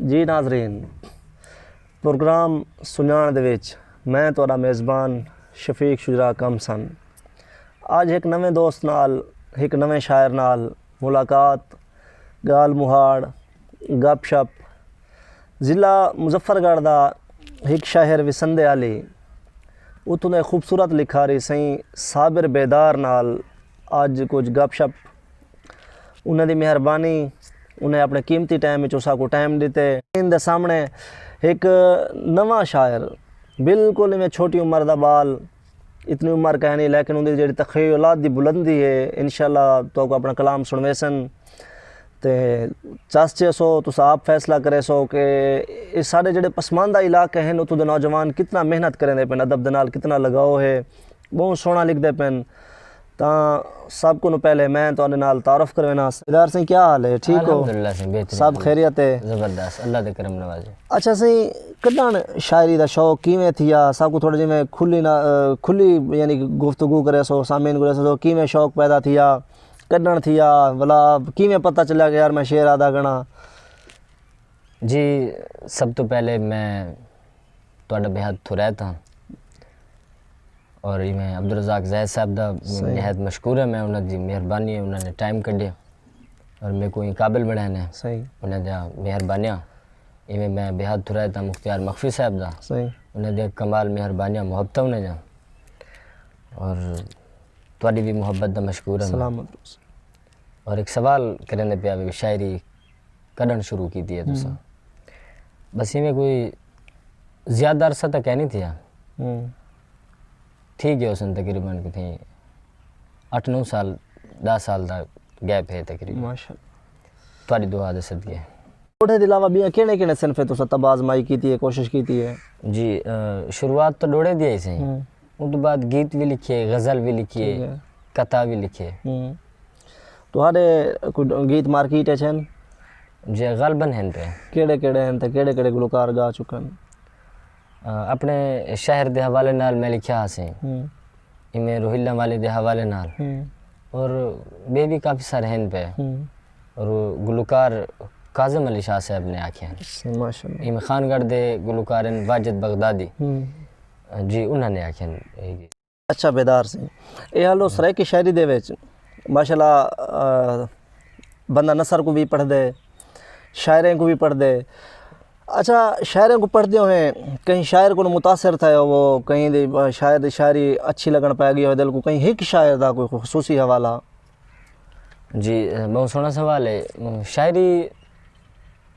جی ناظرین پروگرام سنیاݨ دے وچ میں تہاݙا میزبان شفیق شجراع کم سن اڄ ہک نویں دوست نال ہک نویں شاعر نال ملاقات ڳالھ مہاڑ گپ شپ ضلع مظفر گڑھ دا ہک شہر وسندے آلی اتھوں دے خوبصورت لکھاری سئیں صابر بیدار نال اڄ کجھ گپ شپ انہاں دی مہربانی انہیں اپنے قیمتی ٹائم وچ اساں کو ٹائم ڈتے۔ ان دے سامنے ہک نواں شاعر بالکل ایویں چھوٹی عمر دا بال اتنی عمر کہیں نہیں لیکن ان دی جیڑی تخیلات دی بلندی ہے انشاءاللہ تہاکو اپنا کلام سنویسن تے چس چیسو تساں آپ فیصلہ کریسو کہ اے ساڈے جیڑے پسماندہ علاقے ہیں اتھوں دے نوجوان کتنا محنت کریندے پن ادب دے نال کتنا لگاؤ ہے بہوں سوہنا لکھدے پن۔ تاں سب کنوں پہلے میں تہاڈے نال تعارف کروینا ہاں۔ دیدار سئیں کیا حال ہے ٹھیک ہو؟ الحمدللہ سئیں بہترین سب خیریت ہے؟ زبردست اللہ دے کرم نوازی۔ اچھا سئیں کڈھن شاعری دا شوق کیویں تھیا ساکوں تھوڑا جیویں میں کھلی نا کھلی یعنی کہ گفتگو کرے سو سامعین کوں دسو کیویں شوق پیدا تھیا کڈھن تھیا ولا کیویں پتہ چلیا کہ یار میں شعر آہدا گھنا۔ جی سب توں پہلے میں تہاڈا بے حد تھریت ہاں۔ اور ایویں عبدالرزاق زید صاحب دا نہایت مشکور ہیں میں انہاں دی مہربانی انہاں نے ٹائم کڈھے اور میکوں ایں قابل بنڑائے نے انہاں دی مہربانیاں ایویں میں بےحد تھرائے تاں مختیار مخفی صاحب دا انہاں دی کمال مہربانیاں محبتاں انہاں دیاں اور تہاڈی وی محبت دا مشکور ہیں اور ہک سوال کرن دے پیا شاعری کڈھن شروع کیتی ہے تساں بس ایویں کوئی زیادہ عرصہ تاں کینی تھیا تھی گئے ہوسن تقریبا کتھے اٹھ نو سال ݙاہ سال دا گیپ ہے تقریبا ماشاءاللہ تہاݙی دعا دے صدقے ݙوہڑے دے علاوہ ٻیاں کیہڑے کیہڑے صنفیں تساں طب آزمائی کیتی ہے کوشش کیتی ہے جی شروعات تاں ݙوہڑے دی ہئی سئیں اودوں بعد گیت وی لکھیے غزل وی لکھیے قطع وی لکھیے تہاݙے کوئی گیت مارکیٹ اچ ہن جی غالبا ہن پئے کیہڑے کیہڑے ہن تے کیہڑے کیہڑے گلوکار ڳا چکن اپݨے شہر دے حوالے نال میں لکھیا ہاسے ایویں روہیلا والے دے حوالے نال اور ٻئے وی کافی سارے ہن پئے اور گلوکار کاظم علی شاہ صاحب نے آکھے ہن ماشاءاللہ ایویں خان گڑھ دے گلوکار ہن واجد بغدادی جی انہاں نے آکھے ہن۔ اچھا بیدار سی اے حال و سرائیکی شاعری دے وچ ماشاء اللہ بندہ نثر کو بھی پڑھ دے شاعریں کو بھی پڑھ دے اچھا شاعریں کو پڑھ دے ہوئیں کہیں شاعر کو متاثر تھے ہو وہ کہیں دی شاعر دی شاعری اچھی لگن پائے گی ہو دل کو کہیں ہک شاعر دا کوئی خصوصی حوالہ جی بہت سونا سوال ہے شاعری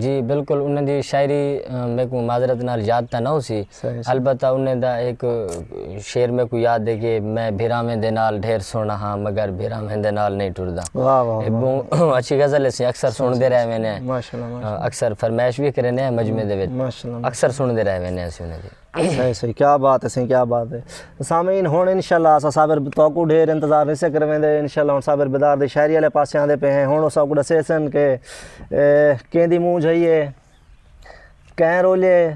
جی بلکل انہاں دی شاعری میکوں معذرت نال یاد تاں نہ ہوسی البتہ انہاں دا ہک شعر میکوں یاد ہے کہ میں بھراواں دے نال ڈھیر سوہنڑا ہاں مگر بھراواں دے نال نئیں ٹردا۔ واہ واہ اے بہوں اچھی غزل ہے اسیں اکثر سنڑدے رہ وینے ہیں اکثر فرمائش وی کرینے ہیں مجمع دے وچ اکثر سنڑدے رہ وینے ہیں اسیں انہاں دی۔ صحیح صحیح کیا بات ہے سائیں کیا بات ہے سامعین ہن انشاءاللہ اسا صابر توکو ڈھیر انتظار نہیں سکر ویندے انشاءاللہ ہن صابر بدار دی شاعری والے پاسے آندے پے ہیں ہن اسا کو دسے سن کہ کین دی مونجھ ہئی ہے کین رولے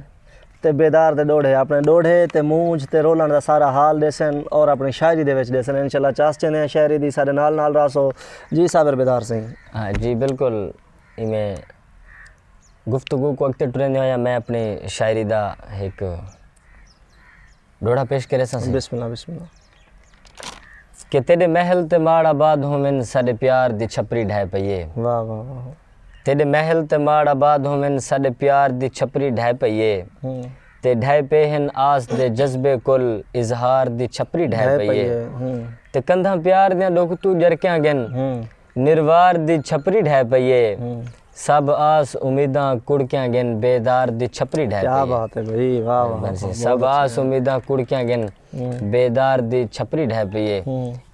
تے بیدار دے ڈوڑھے اپنے ڈوڑھے تے مونجھ تے رولن دا سارا حال دے سن اور اپنی شاعری دے وچ دے سن انشاءاللہ چاس چنے ہیں شاعری دی سارے نال نال راسو جی صابر بدار سائیں ہاں جی بالکل ایویں گفتگو کوں اگتے ٹریندے ہوئیں میں اپنی شاعری دا ہک ڈوہڑا پیش کرے ساں۔ بسم اللہ بسم اللہ۔ کہ تیڈے محل تے ماڑ آباد ہوون ساڈے پیار دی چھپری ڈھائے پئی اے۔ واہ واہ واہ۔ تیڈے محل تے ماڑ آباد ہوون ساڈے پیار دی چھپری ڈھائے پئی اے۔ تے ڈھائے پے ہن آس دے جذبے کل اظہار دی چھپری ڈھائے پئی اے۔ تے کندھاں پیار دیاں ڈوکھ توں جرکیاں گن۔ نروار دی چھپری ڈھہ پئی اے۔ سب آس امیداں کڑکیاں گھن بیدار دی چھپری ڈھہ پئی اے۔ سب آس امیداں کڑکیاں گھن بیدار دی چھپری ڈھہ پئی اے۔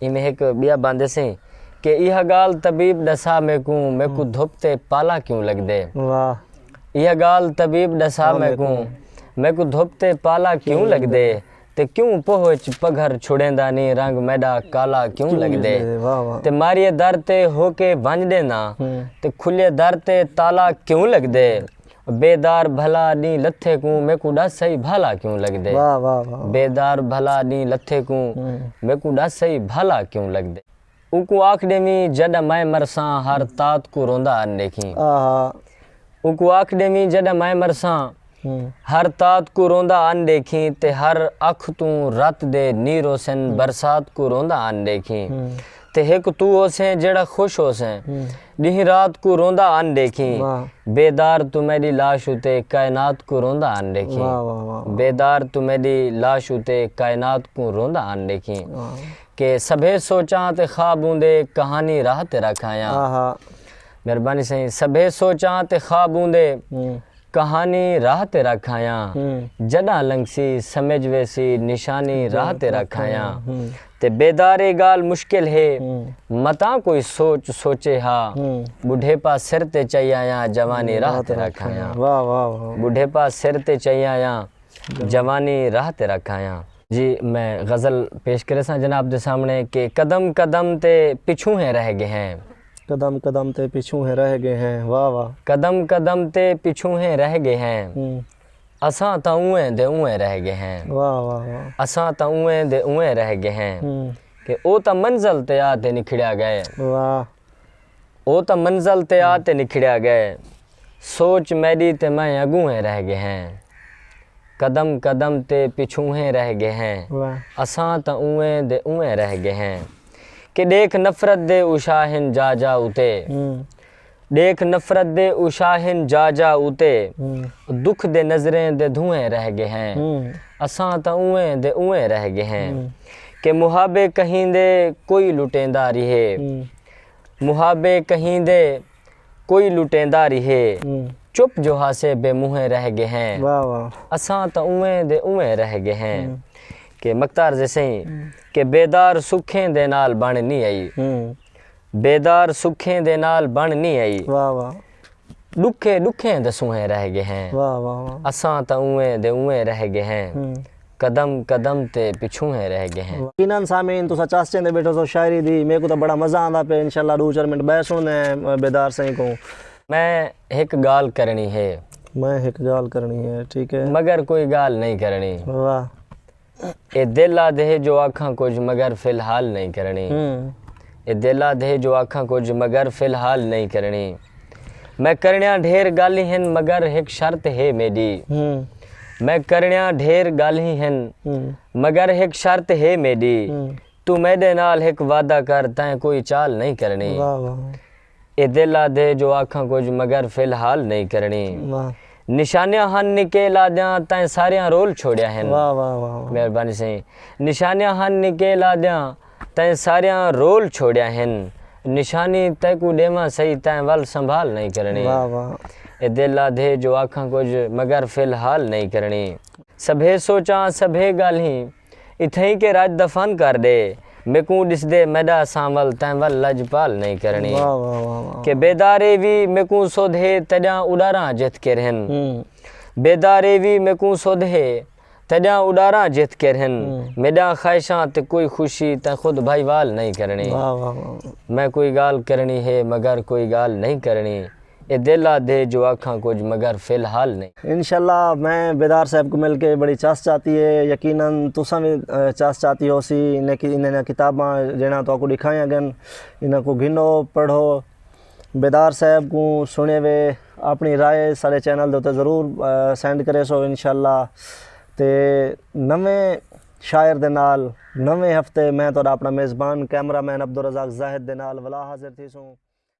ایویں ہک بیا باندے سئیں کہ ایہا گال طبیب ڈسا میکوں میکوں دھپ تے پالا کیوں لگدے۔ ایہا گال طبیب ڈسا میکوں میکوں دھپ تے پالا کیوں لگدے۔ تے کیوں پوہ اچ پگھر چھڑیندا نیں رنگ میڈا کالا کیوں لگدے تے ماریے در تے ہوکے بھنج ڈینداں تے کھلیے در تے تالا کیوں لگدے بے دار بھلا ڈینہہ لتھے کوں میکوں ڈس سہی بھالا کیوں لگدے بے دار بھلا ڈینہہ لتھے کوں میکوں ڈس سہی بھالا کیوں لگدے۔ اوکوں آکھ ݙیویں جݙاں میں مرساں ہر تات کوں روندا ان ݙیکھیں اوکوں آکھ ݙیویں جݙاں میں مرساں ہر تات کوں روندا ان ݙیکھیں تے ہر اکھ توں رت دے نی روسن برسات کوں روندا ان ݙیکھیں تے ہک توں ہوسیں جیڑھا خوش ہوسیں ݙینہہ رات کوں روندا ان ݙیکھیں بیدار توں میݙی لاش اتے کائنات کوں روندا ان ݙیکھیں بیدار توں میݙی لاش اتے کائنات کوں روندا ان ݙیکھیں۔ کہ سبھے سوچاں تے خواب اوندے کہانی راہ تے رکھ آیاں مہربانی سائیں سبھے سوچاں تے خواب اوندے کہانی راہ تے رکھ آیاں جڈاں لنگھسی سمجھ ویسی نشانی راہ تے رکھ آیاں تے بیدار اے گال مشکل ہے متاں کوئی سوچ سوچے ہا بڈھیپا سر تے چائی آیاں جوانی راہ تے رکھ آیاں بڈھیپا سر تے چائی آیاں جوانی راہ تے رکھ آیاں۔ جی میں غزل پیش کریساں جناب دے سامنے کہ قدم قدم تے پچھوں ہیں رہ گئے ہیں۔ قدم قدم تے پچھوں ہیں رہ گئے ہیں واہ واہ۔ قدم قدم تے پچھوں ہیں رہ گئے ہیں۔ اساں تاں اونویں دے اونویں رہ گئے ہیں۔ واہ واہ واہ۔ اساں تاں اونویں دے اونویں رہ گئے ہیں۔ کہ او تاں منزل تے آ تے نکھڑیا گئے۔ واہ۔ او تاں منزل تے آ تے نکھڑیا گئے سوچ میڈی تے میں اگونہیں رہ گئے ہیں قدم قدم تے پچھونہیں رہ گئے ہیں اساں تاں اونویں دے اونویں رہ گئے ہیں کہ ڈیکھ نفرت دے اوشاہن جا جا اتے ڈیکھ نفرت دے اوشاہن جا جا اتے دکھ دے نظریں دے دھوئیں رہ گئے ہیں اساں تاں اونویں دے اونویں رہ گئے ہیں کہ محابے کہیں دے کوئی لٹیندا ریہے۔ محابے کہیں دے کوئی لٹیندا ریہے چپ جو ہاسے بے منہیں رہ گے ہیں اساں تاں اونویں دے اونویں رہ گے ہیں کہ مکتار زے سئیں کہ بیدار سکھیں دے نال بن نی ائی بیدار سکھیں دے نال بن نی ائی۔ ݙکھے ݙکھیں دے سونہے رہ ڳئے ہیں۔ اساں تاں اونویں دے اونویں رہ ڳئے ہیں۔ قدم قدم تے پچھوہیں رہ ڳئے ہیں۔ یقینا سامعین تساں چس چیندے بیٹھو سو شاعری دی میکوں تاں بڑا مزہ آندا پئے انشاءاللہ ݙو چار منٹ ٻئے سݨدے ہیں بیدار سئیں کوں۔ میں ہک ڳالھ کرݨی ہے۔ میں ہک ڳالھ کرݨی ہے ٹھیک ہے۔ مگر کوئی ڳالھ نئیں کرݨی۔ واہ۔ اے دل آدھے جو آکھاں کجھ مگر فی الحال نئیں کرݨی اے دل آدھے جو آکھاں کجھ مگر فی الحال نئیں کرݨی میں کرݨیاں ڈھیر گالھیں ہن مگر ہک شرط ہے میݙی میں کرݨیاں ڈھیر گالھیں ہن مگر ہک شرط ہے میݙی توں میݙے نال ہک وعدہ کر تیں کوئی چال نئیں کرݨی۔ اے دل آدھے جو آکھاں کجھ مگر فی الحال نئیں کرݨی نشانیاں ہن نکیل آدھیاں تئیں ساریاں رول چھوڑیا ہن مہربانی سئیں نشانیاں ہن نکیل آدھیاں تئیں ساریاں رول چھوڑیا ہن نشانی تیکوں ݙیواں سئی تئیں ول سنبھال نئیں کرݨی اے دل آدھے جو آکھاں کجھ مگر فی الحال نئیں کرݨی سبھے سوچاں سبھے ڳالھیں اتھئیں کے راج دا فن کر ڈے۔ میکوں ڈسدے میڈا سانول تیں ول لج پال نئیں کرنی۔ واہ واہ واہ واہ۔ کے بیدار اے وی میکوں سدھ ہے تیڈاں اڈاراں جتھ کر ہن۔ بیدار اے وی میکوں سدھ ہے تیڈاں اڈاراں جتھ کر ہن۔ میڈاں خواہشاں تے کوئی خوشی تیں خود بھائی وال نئیں کرنی۔ واہ واہ واہ واہ۔ میں کوئی گال کرنی ہے مگر کوئی گال نئیں کرنی۔ اے دل آ دھے جو آکھاں کجھ مگر فی الحال نئیں۔ انشاء اللہ میں بیدار صاحب کوں مل کے بڑی چس چاتی ہے یقینا تساں وی چس چاتی ہوسی انہاں دیاں کتاباں جیہڑیاں تہاکوں ڈکھائیاں گن انہاں کوں گھنو پڑھو بیدار صاحب کوں سنڑے وے اپنی رائے ساڈے چینل دے اتے ضرور سینڈ کریسو انشاء اللہ تے نویں شاعر دے نال نویں ہفتے میں تہاڈا اپنا میزبان کیمرہ مین عبدالرزاق زاہد دے نال ولا حاضر تھیسوں۔